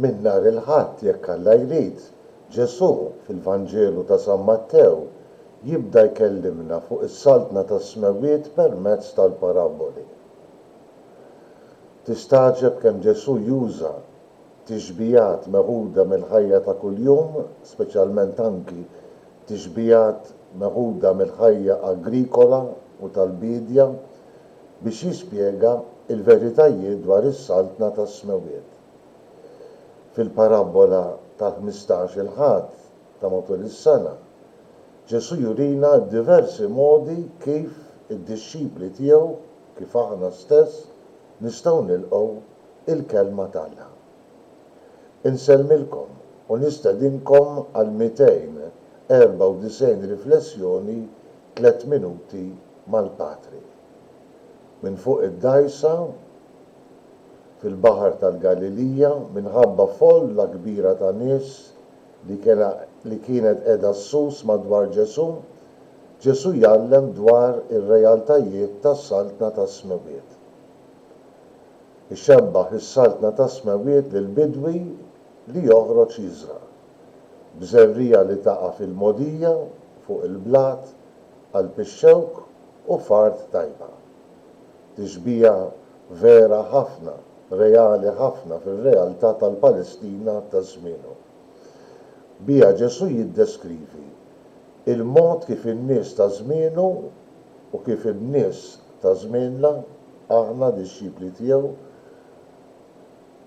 Minn nhar il-Ħadd, jekk Alla jrid, Ġesù, fil-Vanġelu ta' San Mattew, jibda jkellimna fuq is-Saltna tas-Smewwiet permezz tal-parabboli. Tistagħġeb kemm Ġesù juża tixbihat meħuda mill-ħajja ta' kuljum, speċjalment anki tixbihat meħuda mill-ħajja agrikola u tal-biedja, biex jispjega l-veritajiet dwar is-Saltna tas-Smewwiet. Fil-parabbola tal-ħmistax-il Ħadd ta' matul is-sena, Ġesù jurina d-diversi modi kif id-dixxipli tiegħu, kif aħna stess, nistgħu nilqgħu l-Kelma t'Alla. Insellmilkom u nistedinkom għall-294 riflessjoni tliet minuti mal-Patri. Minn fuq id-dgħajsa fil-Baħar tal-Galilija, minħabba folla kbira ta' nies li kellha li kienet qiegħda ssus madwar Ġesù, Ġesù jgħallem dwar ir-realtajiet tas-Saltna tas-Smewwiet. Ixebbah is-Saltna tas-Smewwiet lil bidwi li joħroġ jiżra'. b'żerriegħa li taqa' fil-mogħdija fuq il-blat, qalb ix-xewk u f'art tajba. Tixbiha vera ħafna, reali ħafna fir-realtà tal-Palestina ta' żmienu. Biha Ġesù jiddeskrivi l-mod kif in-nies ta' żmienu u kif in-nies ta' żmienna, aħna dixxipli tiegħu,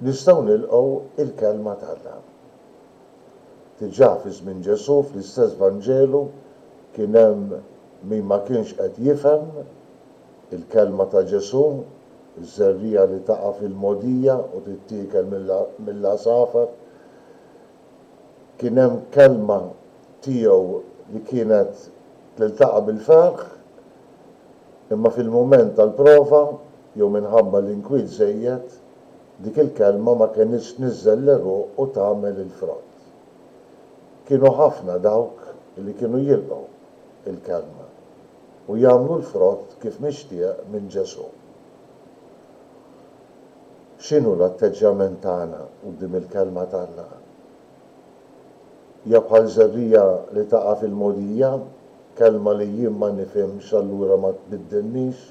Nistgħu nilqgħu l-Kelma t'Alla. Diġà fi żmien Ġesù fl-istess Vanġelu kien hemm min ma kienx qed jifhem il-kelma ta' Ġesù, iż-żerriegħa li taqa' fil-mogħdija u tittiekel mill-għasafar. Kien hemm kelma tiegħu li kienet tiltaqa' bil-ferħ, imma fil-mument tal-prova, jew minħabba l-inkwiet żejjed, dik il-kelma ma kenitx tniżżel l-għeruq u tagħmel il-frott. Kienu ħafna dawk li kienu jilqgħu l-kelma u jagħmlu l-frott kif mixtieq minn Ġesù. X'inhu l-atteġġjament tagħna quddiem il-kelma t'Alla? Hija bħal żerriegħa li taqa' fil-mogħdija, kelma li jien ma nifhimx allura ma tbiddilnix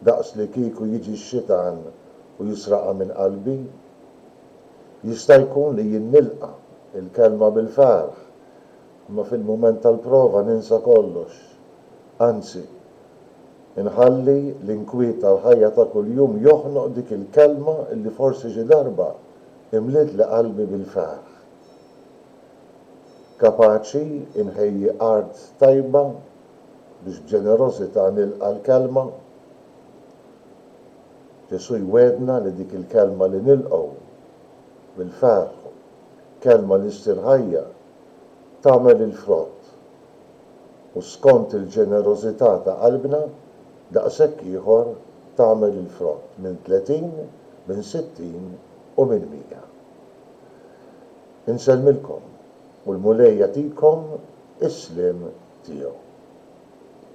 daqs li kieku jiġi x-xitan u jisraqha minn qalbi. Jista' jkun li jien nilqa' l-kelma bil-ferħ, imma fil-mument tal-prova ninsa kollox. Anzi, inħalli l-inkwiet tal-ħajja ta' kuljum joħnoq dik il-kelma li forsi xi darba imlietli qalbi bil-ferħ. Kapaċi nħejji art tajba biex b'ġenerożità nilqa' l-Kelma. Ġesù jwiegħdna li dik il-Kelma li nilqgħu bil-ferħ, Kelma li ssir ħajja, tagħmel il-frott. U skont il-ġenerożità ta' qalbna, daqshekk ieħor tagħmel il-frott minn tletin, minn sittin u minn mija. Insellmilkom. u l-Mulej jagħtikom is-sliem tiegħu.